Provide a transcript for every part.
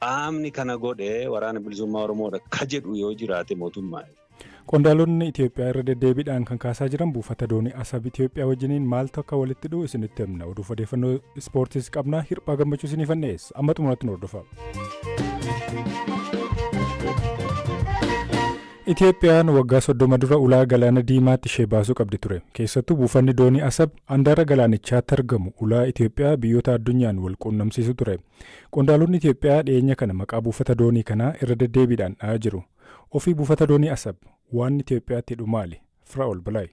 qaamni kana godhe waraana bilisummaa Oromoodha ka jedhu yoo jiraate mootummaa. Qondaalonni Itoophiyaa irra deddeebiidhaan kan kaasaa jiran buufata doonii Asab Itoophiyaa wajjiniin maaltu akka walitti dhufu isinitti himna. Oduuf odeeffannoo ispoortiis qabna. Hirphaa gammachuu isiniif dhiyeessa. Amma xumuratti nu hordofaa. Itoophiyaan waggaa soddoma dura ulaa galaana diimaatti ishee baasuu qabdi ture. Keessattuu buufanni doonii Asab handaara galaanichaatti argamu ulaa Itoophiyaa biyyoota addunyaan wal quunnamsiisu ture. Qondaalonni Itoophiyaa dhiyeenya kana maqaa buufata doonii kanaa irra deddeebiidhaan dha'aa jiru. Ofii buufata doonii Asab waan Itoophiyaatti hidhu maali? Firaa'ol Balaay.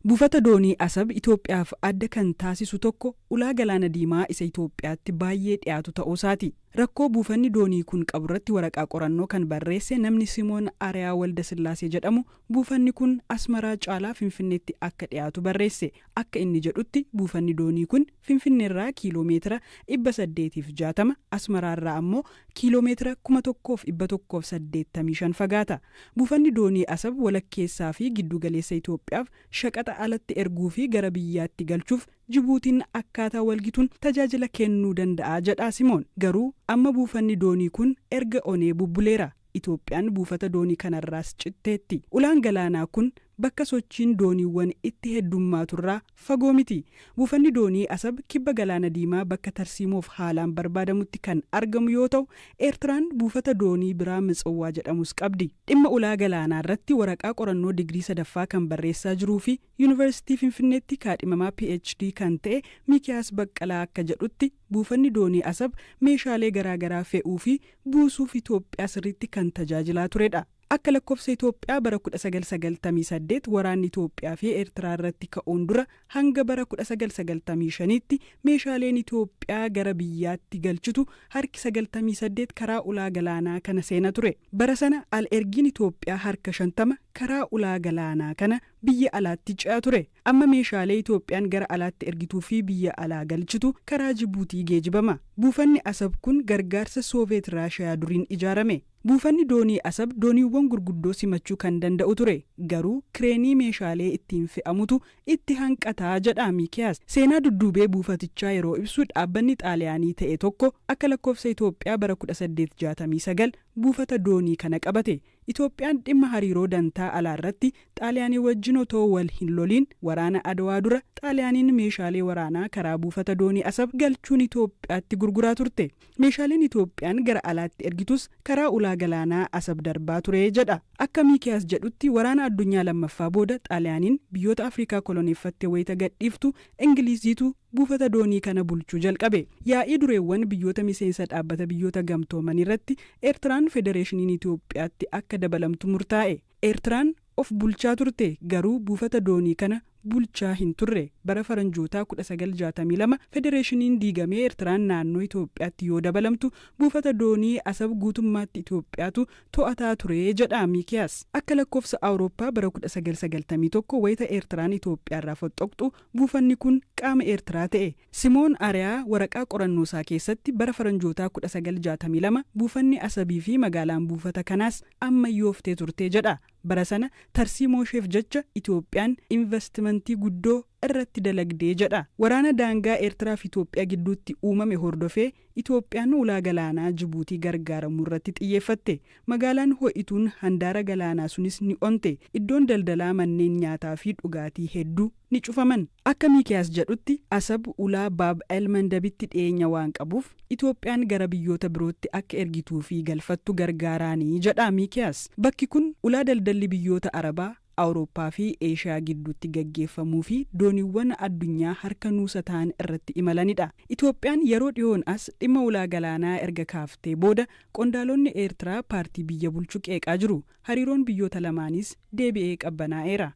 Buufata doonii Asab Itoophiyaaf adda kan taasisu tokko ulaa Galaana Diimaa isa Itoophiyaatti baayyee dhiyaatu ta'uusaati. Rakkoo buufanni doonii kun qaburratti waraqaa qorannoo kan barreesse namni Simoon Ariyaa Waldasillaasee jedhamu Buufanni kun Asmaraa caalaa Finfinneetti akka dhiyaatu barreesse. Akka inni jedhutti buufanni doonii kun Finfinneerraa kiiloo meetira 860, Asmaraarraa ammoo kiiloo meetira 1,185 fagaata. Buufanni doonii Asab walakkeessaa fi gidduu galeessa Itoophiyaaf shaqaxa alatti erguu fi gara biyyaatti galchuuf Jibuutiin akkaataa walgituun tajaajila kennuu danda'a jedha Simoon. Garuu amma buufanni doonii kun erga onee bubbuleera. Itoophiyaan buufata doonii kanarraas citteetti. Ulaan galaanaa kun bakka sochiin dooniiwwan itti heddummaaturraa fagoo miti. Buufanni doonii Asab kibba Galaana Diimaa bakka tarsiimoof haalaan barbaadamutti kan argamu yoo ta'u, Eertiraan buufata doonii biraa Mitsowwaa jedhamus qabdi. Dhimma ulaa galaanaarratti waraqaa qorannoo digirii sadaffaa kan barreessaa jiruufi Yunivarsiitii Finfinneetti kaadhimamaa PhD kan ta'e Miikiyaas Baqqalaa akka jedhutti, buufanni doonii Asab meeshaalee garaa garaa fe'uu fi buusuuf Itoophiyaa sirriitti kan tajaajilaa turedha. Akka lakkofsa Itoophiyaa bara 1998 waraanni Itoophiyaa fi Eertiraa irratti ka'uun dura hanga bara 1995tti meeshaaleen Itoophiyaa gara biyyaatti galchitu harki 98 karaa ulaa galaanaa kana seena ture. Bara sana al-ergiin Itoophiyaa harka 50 karaa ulaa galaanaa kana biyya alaatti ce'aa ture. Amma meeshaalee Itoophiyaan gara alaatti ergituu fi biyya alaa galchitu karaa Jibuutii geejibama. Buufanni Asab kun gargaarsa Sooveet Raashayaa duriin ijaarame. Buufanni doonii Asab dooniiwwan gurguddoo simachuu kan danda'u ture. Garuu kireenii meeshaalee ittiin fe'amutu itti hanqata, jedha Miikiyaas. Seenaa dudduubee buufatichaa yeroo ibsu dhaabbanni Xaaliyaanii ta'e tokko akka lakkoofsa Itoophiyaa bara kudha saddeet jaatamii sagal buufata doonii kana qabate. Itoophiyaan dhimma hariiroo dantaa alaarratti Xaaliyaanii wajjin otoo wal hin loliin waraana Adwaa dura Xaaliyaaniin meeshaalee waraanaa karaa buufata doonii Asab galchuun Itoophiyaatti gurguraa turte. Meeshaaleen Itoophiyaan gara alaatti ergitus karaa ulaa galaanaa Asab darbaa ture jedha. Akka Miikiyaas jedhutti waraana addunyaa lammaffaa booda Xaaliyaaniin biyyoota Afrikaa koloneeffatte wayita gadhiiftu Ingiliiziitu buufata doonii kana bulchuu jalqabe. Yaa'ii dureewwan biyyoota miseensa Dhaabbata Biyyoota Gamtoomaniirratti Eertiraan Federeeshiniin Itoophiyaatti akka dabalamtu murtaa'e. Eertiraan of bulchaa turte, garuu buufata doonii kana bulchaa hin turre. Bara Faranjootaa 1962 federeeshiniin diigamee Eertiraan naannoo Itoophiyaatti yoo dabalamtu buufata doonii Asab guutummaatti Itoophiyaatu to'ataa ture, jedha Miikiyaas. Akka lakkoofsa Awurooppaa bara 1991 wayita Eertiraan Itoophiyaarraa foxxoqxu Buufanni kun qaama Eertiraa ta'e. Simoon Areyaa waraqaa qorannoo isaa keessatti bara faranjootaa 1962 buufanni Asabii fi magaalaan buufata kanaas ammayyooftee turte jedha. Bara sana tarsiimoosheef jecha Itoophiyaan invastimantii guddoo irratti dalagde jedha. Waraana daangaa Eertiraa fi Itoophiyaa gidduutti uumame hordofee Itoophiyaan ulaa galaanaa Jibuutii gargaaramuurratti xiyyeeffatte. Magaalaan ho'ituun handaara galaanaa sunis ni onte, iddoon daldalaa, manneen nyaataa fi dhugaatii hedduu ni cufaman. Akka Miikiyaas jedhutti, Asab ulaa Baab el-Mandabitti dhiyeenya waan qabuuf, Itoophiyaan gara biyyoota birootti akka ergituu fi galfattu gargaaraani jedha Miikiyaas. Bakki kun ulaa daldalli biyyoota Arabaa Awurooppaa fi Eeshiyaa gidduutti gaggeeffamuu fi dooniiwwan addunyaa harka nuusa ta'an irratti imalanidha. Itoophiyaan yeroo dhihoon as dhimma ulaa galaanaa erga kaaftee booda qondaalonni Eertiraa paartii biyya bulchu qeeqaa jiru. Hariiroon biyyoota lamaaniis deebi'ee qabbanaa'eera.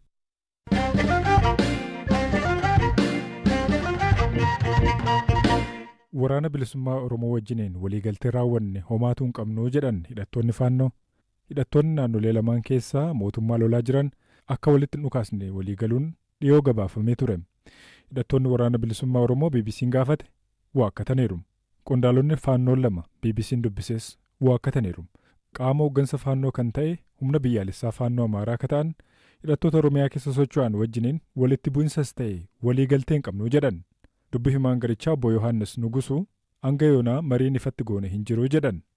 Waraana Bilisummaa Oromoo wajjiniin waliigaltee raawwanne homaatu hin qabnu jedhan hidhattoonni Faannoo. Hidhattoonni naannolee lamaan keessaa mootummaa lolaa jiran akka walitti hin dhukaasne walii galuun dhiyoo gabaafamee ture. Hidhattoonni Waraana Bilisummaa Oromoo BBC'n gaafate waakkataniiru. Qondaalonni Faannoo lama BBC'n dubbises waakkataniiru. Qaama hooggansa Faannoo kan ta'e Humna Biyyaalessaa Faannoo Amaaraa akka ta'an hidhattoota Oromiyaa keessa socho'an wajjiniin walitti bu'insas ta'e walii galtee hin qabnu jedhan. Dubbi himaan garichaa Obbo Yohaannis Nugusuu hanga yoonaa mariin ifatti goone hin jiru jedhan.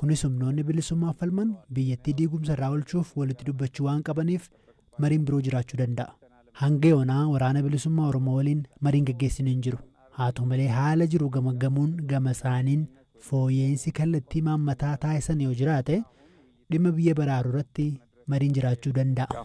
Kunis humnoonni bilisummaaf falman biyyattii diigumsa irraa olchuuf walitti dubbachuu waan qabaniif mariin biroo jiraachuu danda'a. Hanga yoonaa Waraana Bilisummaa Oromoo waliin mariin gaggeessine hin jiru. Haa ta'u malee haala jiru gamaggamuun gama isaaniin fooyya'iinsi kallattii imaammataa taasisan yoo jiraate dhimma biyya baraaruu irratti mariin jiraachuu danda'a.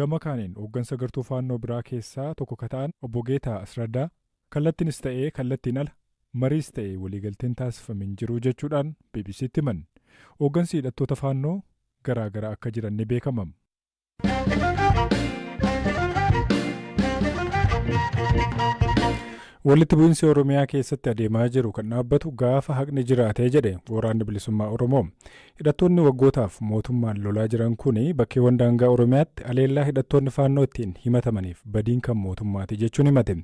Gama kaaniin hooggansa gartuu Faannoo biraa keessaa tokko ka ta'an Obbo Geetaa Asradaa, kallattiinis ta'ee kallattiin ala mariis ta'ee waliigalteen taasifame hin jiru jechuudhaan BBC'tti himan. Hooggansi hidhattoota Faannoo garaa gara akka jiran ni beekama. Walitti bu'iinsi Oromiyaa keessatti adeemaa jiru kan dhaabbatu gaafa haqni jiraate jedhe Waraanni Bilisummaa Oromoo. Hidhattoonni waggootaaf mootummaan lolaa jiran kuni bakkeewwan daangaa Oromiyaatti aleellaa hidhattoonni Faannoo ittiin himatamaniif badiin kan mootummaati jechuun himate.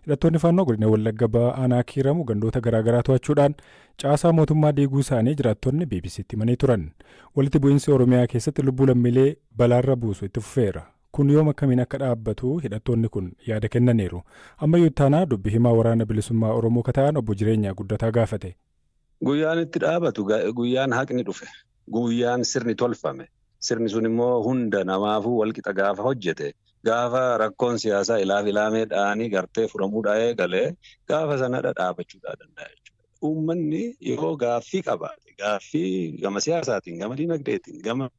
Hidhattoonni Faannoo godina Wallagga Bahaa aanaa Kiiramu gandoota garaa garaa to'achuudhaan caasaa mootummaa diiguu isaanii jiraattonni BBC'tti himanii turan. Walitti bu'iinsi Oromiyaa keessatti lubbuu lammiilee balaarra buusu itti fufeera. Kun yoom akkamiin akka dhaabbatu hidhattoonni kun yaada kennaniiru. Ammayyuu ittaanaa dubbi himaa waraana bilisummaa Oromoo ka ta'an obbo Jireenyaa Guddataa gaafate. Guyyaan itti dhaabatu guyyaan haqni dhufe guyyaan sirni tolfame sirni sun immoo hunda namaafuu walqixa gaafa hojjete gaafa rakkoon siyaasaa ilaaf ilaamee dhaanii gartee furamuu dhaa'ee galee gaafa sanadha dhaabachuu dhaa danda'a jechuudha. Uummanni yoo gaaffii qabaate gaaffii gama siyaasaatiin gama dinagdeetiin gama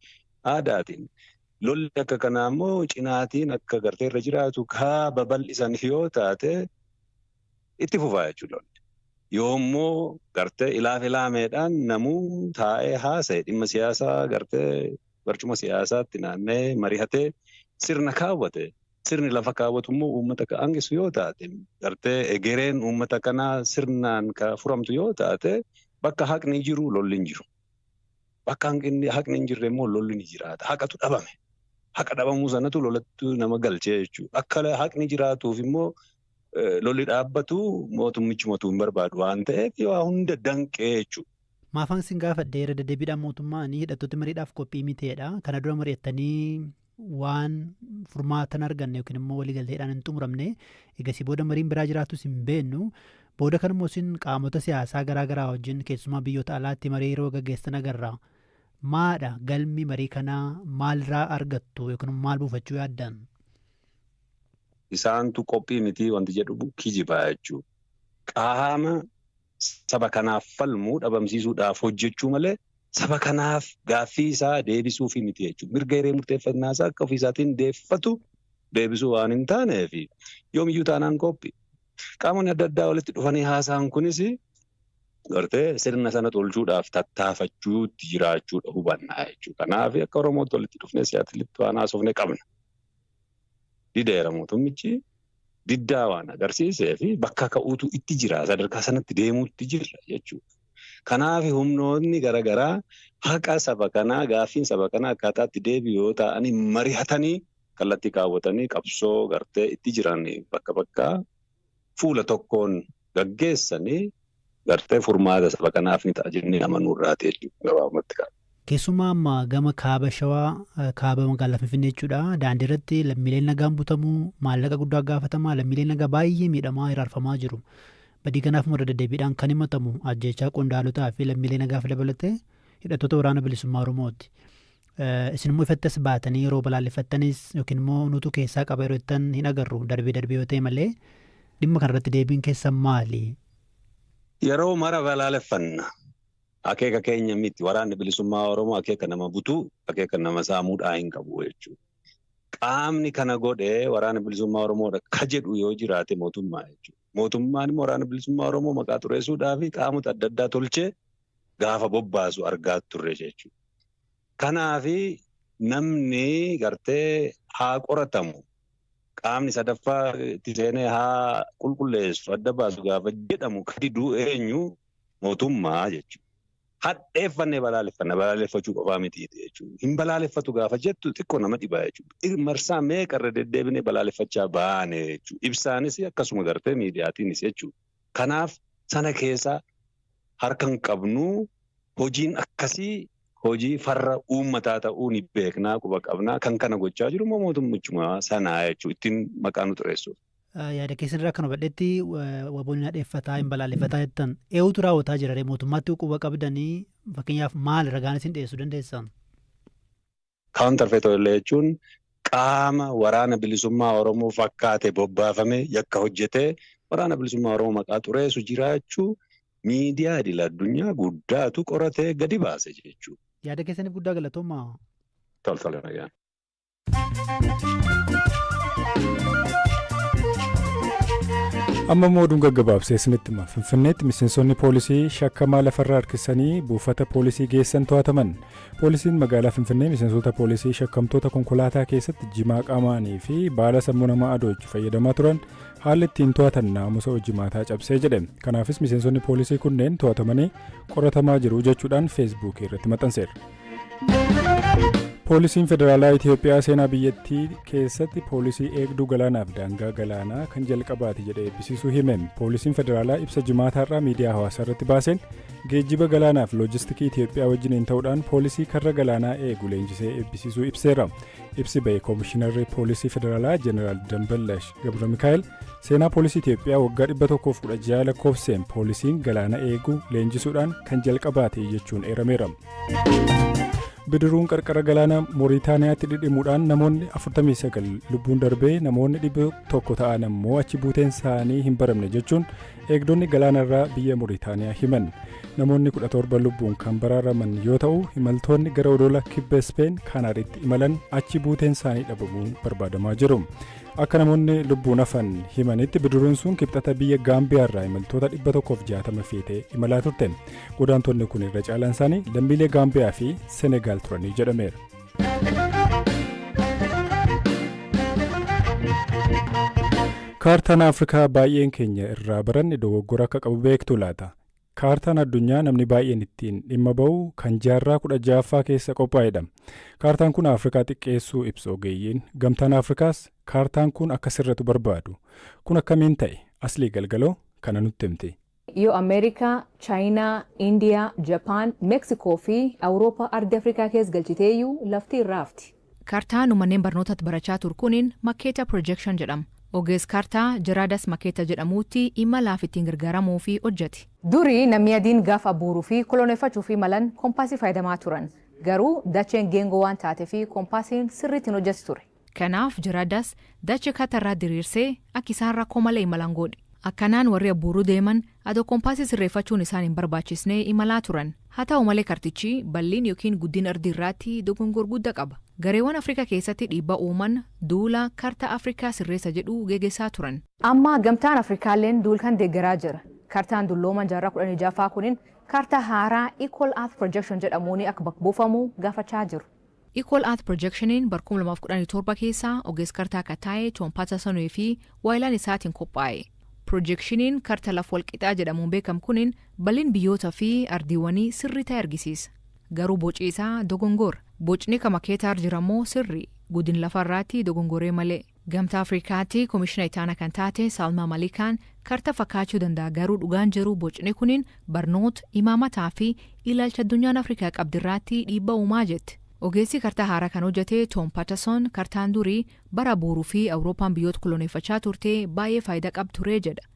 aadaatiin lolli akka kanaa immoo cinaatiin akka gartee irra jiraatu kaa babal'isan yoo taate itti fufaa jechuu lolli yoo immoo gartee ilaaf ilaameedhaan namuu taa'ee haasa'e dhimma siyaasaa gartee barcuma siyaasaatti naanna'ee marihatee sirna kaawwate sirni lafa kaawwatu immoo uummata ka aangisu yoo taate gartee egereen uummata kanaa sirnaan ka furamtu yoo taate bakka haqni jiru lolli hin jiru. Bakka hanqinni haqni hin jirre immoo lolli ni jiraata. Haqatu dhabame. Haqa dhabamuu sanatu lolatti nama galchee jechuudha. Akka haqni jiraatuuf immoo lolli dhaabbatu mootummichi motuu hin barbaadu waan ta'eef waa hunda danqee jechuudha. Maafan isin gaafadhe irra deddeebiidhaan mootummaan hidhattoota mariidhaaf qophii miteedha. Kana dura mari'attanii waan furmaata hin arganne yookiin immoo waliigalteedhaan hin xumuramne egasii booda mariin biraa jiraatus hin beennu. Booda kanammoo isin qaamota siyaasaa garaa garaa wajjin keessumaa biyyoota alaatti marii yeroo gaggeessan agarra. Maadha galmi marii kanaa maalirraa argattu yookiin maal buufachuu yaaddan? isaantu qophii miti wanti jedhu kijibaa jechuudha. Qaama saba kanaaf falmu dhabamsiisuudhaaf hojjechuu malee saba kanaaf gaaffii isaa deebisuufi miti jechuudha. Mirga hiree murteeffannaa isaa akka ofii isaatiin deeffatu deebisuu waan hin taaneef yoomiyyuu taanaan qophii. Qaamonni adda addaa walitti dhufanii haasaan kunis gartee sirna sana tolchuudhaaf tattaafachuutti jiraachuudha hubannaa jechuudha. Kanaaf akka Oromootti walitti dhufnee siyaatilitti waan haasofne qabna. dideera mootummichi diddaa waan agarsiisee fi bakka ka'uutu itti jira sadarkaa sanatti deemuutti jirra jechuudha. Kanaaf humnoonni garaagaraa haqa saba kanaa gaaffiin saba kanaa akkaataatti deebi'u yoo ta'anii marihatanii kallattii kaawwatanii qabsoo gartee itti jiran bakka bakkaa fuula tokkoon gaggeessani gartee furmaata saba kanaaf ni ta'a jennee amanuu irraati jechuudha gabaabumatti kaa. Keessumaa amma gama kaaba shawaa kaaba magaalaa Finfinnee jechuudha daandii irratti lammiileen nagaan butamu maallaqa guddaa gaafatama lammiileen nagaa baay'ee miidhamaa hiraarfamaa jiru. Badii kanaaf irra deddeebiidhaan kan himatamu ajjeechaa qondaalotaa fi lammiilee nagaaf dabalatee hidhattoota waraana bilisummaa Oromooti. Isin immoo ifatti as baatanii yeroo balaaleffattanis yookiin immoo nutu keessaa qaba yeroo jettan hin agarru darbee darbee yoo ta'e malee dhimma kanarratti deebiin keessan maali? Yeroo mara balaaleffanna. Akeeka keenya miti. Waraanni bilisummaa Oromoo akeeka nama butuu, akeeka nama saamuudhaa hin qabu jechuudha. Qaamni kana godhe waraana bilisummaa Oromoodha ka jedhu yoo jiraate mootummaa jechuudha. Mootummaan immoo waraana bilisummaa Oromoo maqaa xureessuudhaa fi qaamota adda addaa tolchee gaafa bobbaasu argaa turre jechuudha. Kanaafi namni gartee haa qoratamu, qaamni sadaffaa itti seenee haa qulqulleessu, adda baasu gaafa jedhamu ka didu eenyu? Mootummaa jechuudha. Hadheeffannee balaaleffanna, balaaleffachuu qofaa miti jechuudha. Hin balaaleffatu gaafa jettu xiqqoo nama dhiba jechuudha. Marsaa meeqa irra deddeebinee balaaleffachaa baane jechuudha. Ibsaanis akkasuma gartee miidiyaatiinis jechuudha. Kanaaf sana keessa harka hin qabnu. Hojiin akkasii hojii farra uummataa ta'uu ni beekna, quba qabna. Kan kana gochaa jiru immoo mootummichuma sana jechuudha. Ittiin maqaa nu xureessuuf. Yaada keessan irraa kan hubadhetti waboon hin hadheeffataa, hin balaaleffataa jettan. Eewutu raawwataa jira ree mootummaatti quba qabdanii fakkeenyaaf maal ragaan isin dhiyeessuu dandeessan? Counterfeit Oil jechuun qaama Waraana Bilisummaa Oromoo fakkaate bobbaafame yakka hojjetee Waraana Bilisummaa Oromoo maqaa xureesu jiraachuu miidiyaa idil addunyaa guddaatu qoratee gadi baase jechuudha. Yaada keessaniif guddaa galatoomaa. Tol tol nagaan. amma immoo oduun gaggabaabsee isinitti hima finfinneetti miseensonni poolisii shakkamaa lafarra harkisanii buufata poolisii geessan to'ataman Poolisiin magaalaa Finfinnee miseensota poolisii shakkamtoota konkolaataa keessatti jimaa qaamaanii fi baala sammuu namaa adoochu fayyadamaa turan haalli ittiin to'atan naamusa hojimaataa cabsee jedhe. Kanaafis miseensonni poolisii kunneen to'atamanii qoratamaa jiru jechuudhaan feesbuukii irratti maxxanseera. Poolisiin Federaalaa Itoophiyaa seenaa biyyattii keessatti poolisii eegduu galaanaaf daangaa galaanaa kan jalqabaati jedhee eebbisiisuu hime. Poolisiin Federaalaa ibsa jimaataarraa miidiyaa hawaasaa irratti baaseen Geejjiba galaanaa fi loojistikii Itiyoophiyaa wajjiniin ta'uudhaan poolisii karra galaanaa eegu leenjisee eebbisiisuu ibseera. Ibsi ba'e Koomishinarri Poolisii Federaalaa Jeneraal Damballash Gabra Mikaa'el seenaa poolisii Itiyoophiyaa waggaa 116 lakkoofseen poolisiin galaana eegu leenjisuudhaan kan jalqabaate jechuun eerameera. Bidiruun qarqara galaana Mooritaaniyaatti dhidhimuudhaan namoonni 49 lubbuun darbee namoonni 100 ta'an ammoo achi buuteen isaanii hin baramne jechuun Eegdonni galaanarraa biyya Muritaaniyaa himan. Namoonni 17 lubbuun kan baraaraman yoo ta'u, imaltoonni gara odola kibba Ispeen Kaanaariitti imalan achi buuteen isaanii dhabamuun barbaadamaa jiru. Akka namoonni lubbuun hafan himanitti bidiruun sun kibxata biyya Gaambiyaarraa imaltoota 160 feetee imalaa turte. Godaantonni kun irra caalaan isaanii lammiilee Gaambiyaa fi Senegaal turanii jedhameera. Kaartaan Afrikaa baay'een keenya irraa baranne dogoggora akka qabu beektu laata? Kaartaan addunyaa namni baay'een ittiin dhimma ba'u kan jaarraa kudha ja'affaa keessa qophaa'edha. Kaartaan kun Afrikaa xiqqeessuu ibsu ogeeyyiin. Gamtaan Afrikaas kaartaan kun akka sirratu barbaadu. Kun akkamiin ta'e? Aslii Galgaloo kana nutti himti. Yoo Amerikaa, Chayinaa, Indiyaa, Japaan, Mexico fi Awuroopaa ardi Afrikaa kees galchiteeyyu lafti irra hafti. Kartaa nu manneen barnootatti barachaa tur kunin makkeeta projection jedhama. Ogeess kartaa Gerardus Maketa jedhamuutti imalaaf ittiin gargaaramuu fi hojjate. Duri namni adiin gaaf abbuuru fi koloneeffachuuf imalan kompaasii fayyadamaa turan. Garuu dacheen geengoo waan taate fi kompaasiin sirriitti hin hojjatu ture. Kanaaf jara das dacha kata irraa diriirsee akka isaan rakkoo malee imalan goodhi. Akkanaan warri abbuuruu deeman adoo kompaasii sirreeffachuun isaan hin barbaachisnee imalaa turan. Haa ta'u malee kartichi balliin yookiin guddin ardii irraatti dogongor gudda qaba. Gareewan Afrika keessatti dhiibba uuman duula karta Afrikaa sirreessa jedhu gegesaa turan. Amma gamtaan Afrikaalleen duul kan deeggaraa jira. Kartaan dullooman jaarraa 16ffaa kunin karta haaraa Equal Earth Projection jedhamuuni akka bakk buufamu gaafachaa jiru. Equal Earth Projection'n bar 2017 keessa ogeess kartaa ka taye Tom Patterson fi waayilaan isaatiin qophaaye. Projekshiniin karta laf walqixaa jedhamuun beekam kunin bal'in biyyoota fi ardiiwanii sirrii taye argisiisa. Garuu boci isaa dogongora. Bocni ka makeetaar jirammoo sirrii, gudin lafa irraatti dogongoree malee. Gamtaa Afrikaatti Komishina Itaana kan taate Salma Malikaan karta fakkaachuu danda'a garuu dhugaan jiru bocni kunin barnoota, imaamataa fi ilaalcha addunyaan Afrikaa qabdi irraatti dhiibba uumaa jetti. Ogeessi kartaa haaraa kan hojjate Tom Patterson kartaan durii bara booruu fi Awurooppaan biyyoota koloneeffachaa turte baay'ee faayida qab ture jedha.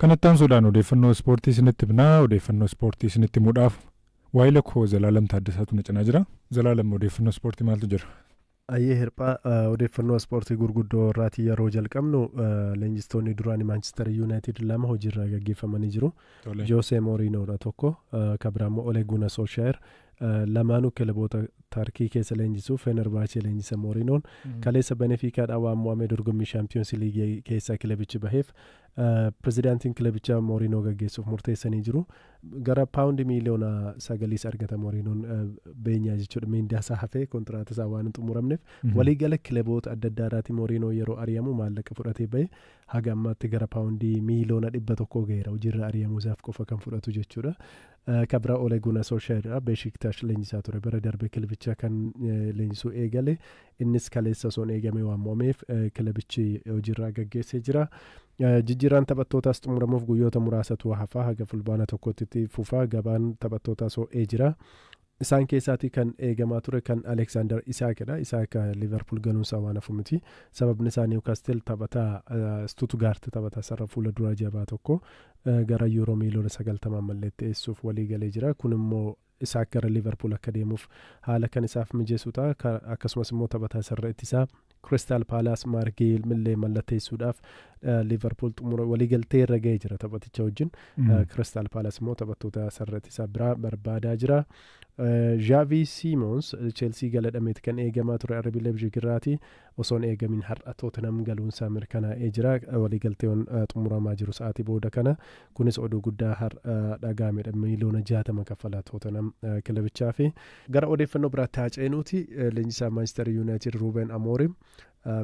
Kanatti aansuudhaan odeeffannoo ispoortii isinitti himna. Odeeffannoo ispoortii isinitti himuudhaaf waayila koo Zalaalam Taaddasaatu na cinaa jira. Zalaalam odeeffannoo ispoortii maaltu jira? Ayyee hirphaa eh, odeeffannoo ispoortii gurguddoo irraatii yeroo jalqabnu eh, leenjistoonni duraanii Maanchister Yuunaayitid lama hojiirraa gaggeeffamanii jiru. Tole. Joosee Mooriinoodha tokko ka biraa immoo Ole Guna Solshaayer lamaanuu kilaboota Tarkii keessa leenjisuu Fenerbahce leenjisa Mooriinoon kaleessa Benefiikaadhaa waan mo'amee dorgommii shaampiyoonsi liigii keessaa kilabichi baheef eh, pirezidaantiin kilabichaa Mooriinoo gaggeessuuf murteessanii jiru gara paawundi miiliyoona sagaliis argata Mooriinoon eh, beenyaa jechuudha miindaa isaa hafee kontiraata isaa waan hin xumuramneef waliigala kilaboota adda addaa irraati Mooriinoo yeroo ari'amu maallaqa fudhatee bahe haga ammaatti gara paawundii miiliyoona dhibba tokkoo gaheera hojiirra ari'amuu isaaf qofa kan fudhatu jechuudha. Kan biraa Ole Gunnar Solskjaer dha. Beeshiktash leenjisaa ture. Bara darbe kilabicha kan leenjisuu eegale. Innis kaleessa osoo hin eegamee waan mo'ameef kilabichi hojiirraa gaggeessee jira. Jijjiirraan taphattootaas xumuramuuf guyyoota muraasatu hafaa haga fulbaana tokkotti fufa. Gabaan taphattootaas ho'ee jira. Isaan keessaatii kan eegamaa ture kan Aleeksaandar Isaakidha. Isaak Liiverpuul galuunsaa waan hafu miti. Sababni isaa Niwkaastil taphataa Stutugaart taphataa sarara fuula duraa jabaa tokko gara yuuroo miiliyoona sagaltamaan mallatteessuuf walii galee jira. Kun immoo Isaak gara Liiverpuul akka deemuuf haala kan isaaf mijeessu ta'a. Akkasumas immoo taphataa sarara ittisaa Kiristaal Paalaas Maark Geeyil millee mallatteessuudhaaf Liivarpuul xumura waliigaltee irra ga'ee jira taphaticha wajjin. Kiristaal Paalaas immoo taphattoota sararati isaa biraa barbaadaa jira. Zhaavii Siimoons Cheelsii galadhameeti kan eegamaa ture RB Leipzig irraati osoon eegamin har'a Tootinam galuunsaa mirkanaa'ee jira. Waliigalteewwan xumuramaa jiru sa'aatii booda kana Kunis oduu guddaa har'a dhaga'amedha. Miiliyoona 60 kaffala Tootanham kilabichaafi. Gara odeeffannoo biraatti haa ceenuuti leenjisaan Maanchister Yuunaayitid Ruuben Amoorim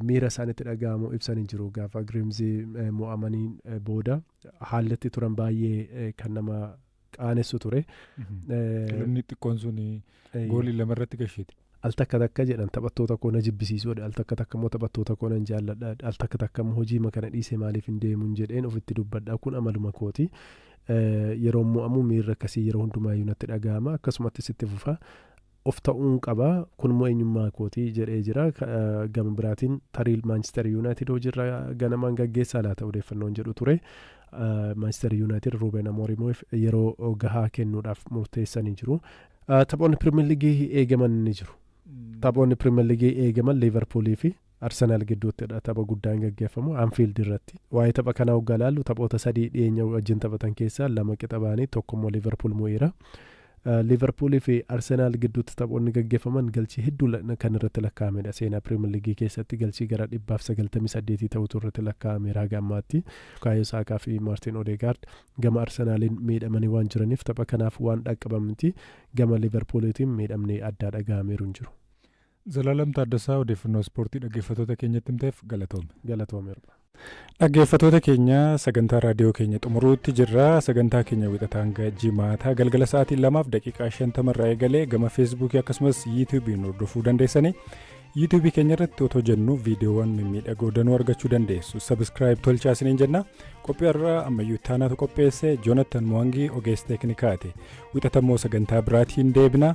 miira isaan itti dhaga'amu ibsanii jiru. Gaafa Giriimzii mo'amanii booda haalli itti turan baay'ee kan nama qaanessu ture. Kilabni xiqqoon sun Eeyyee. goolii lama irratti gashite. al takka takka jedhan taphattoota koo na jibbisiisuu jedhe al takka takka immoo taphattoota koo nan jaalladha jedhe al takka takka immoo hojii ma kana dhiisee maaliif hin deemuun jedheen ofitti dubbadha kun amaluma kooti Eh, yeroo mo'amu miirri akkasii yeroo hundumaa iyyuu natti dhaga'ama akkasumattis itti fufa of ta'uun qaba kun immoo eenyummaa kooti jedhee jira Ka- eh, gama biraatiin tarii maanchister yuunaayitid hojiirra ganamaan gaggeessaa laata odeeffannoon jedhu ture Maanchister Yuunaayitid Ruuben Amoorimiif yeroo gahaa kennuudhaaf murteessanii jiru. Taphoonni Piriimer Liigii eegaman ni jiru. Taphoonni Piriimer Liigii eegaman Liivarpuulii fi Arsenaal gidduuttidha tapha guddaan gaggeeffamu Anfiild irratti. Waa'ee tapha kanaa hoggaa ilaallu taphoota sadii dhiyeenya wajjin taphatan keessaa lama qixa ba'anii tokko immoo Liivarpuul mo'eera. Liiverpuulii fi Arsenaal gidduutti taphoonni gaggeeffaman galchii hedduu kan irratti lakkaa'amedha. Seenaa Piriimer Liigii keessatti galchii gara dhibbaaf sagaltamii saddeetii ta'utu irratti lakkaa'ameera haga ammaatti. Bukaayoo Saakaa fi Maartiin Odeegaard gama Arsenaaliin miidhamanii waan jiraniif tapha kanaaf waan dhaqqaban miti. Gama Liiverpuuliitiin miidhamni addaa dhaga'ameeru hin jiru. Zalaalam Taaddasaa odeeffannoo ispoortii dhaggeeffatoota keenyatti himteef galatoomi. Galatoomi hirpha. Dhaggeeffatoota keenya sagantaa raadiyoo keenya xumuruutti jirra. Sagantaa keenya wixataa hanga jimaataa galgala sa'aatii lamaaf daqiiqaa shantama irraa eegalee gama feesbuukii akkasumas yuutuubiin hordofuu dandeessanii yuutuubii keenya irratti otoo jennu viidiyoowwan mimmiidhagoo danuu argachuu dandeessu. Sabiskiraayib tolchaa isiniin jenna. Qophii har'aa ammayyuu taanaatu qopheesse Joonatan Mo'angii ogeessa teeknikaati. Wixatammoo sagantaa biraatiin deebina.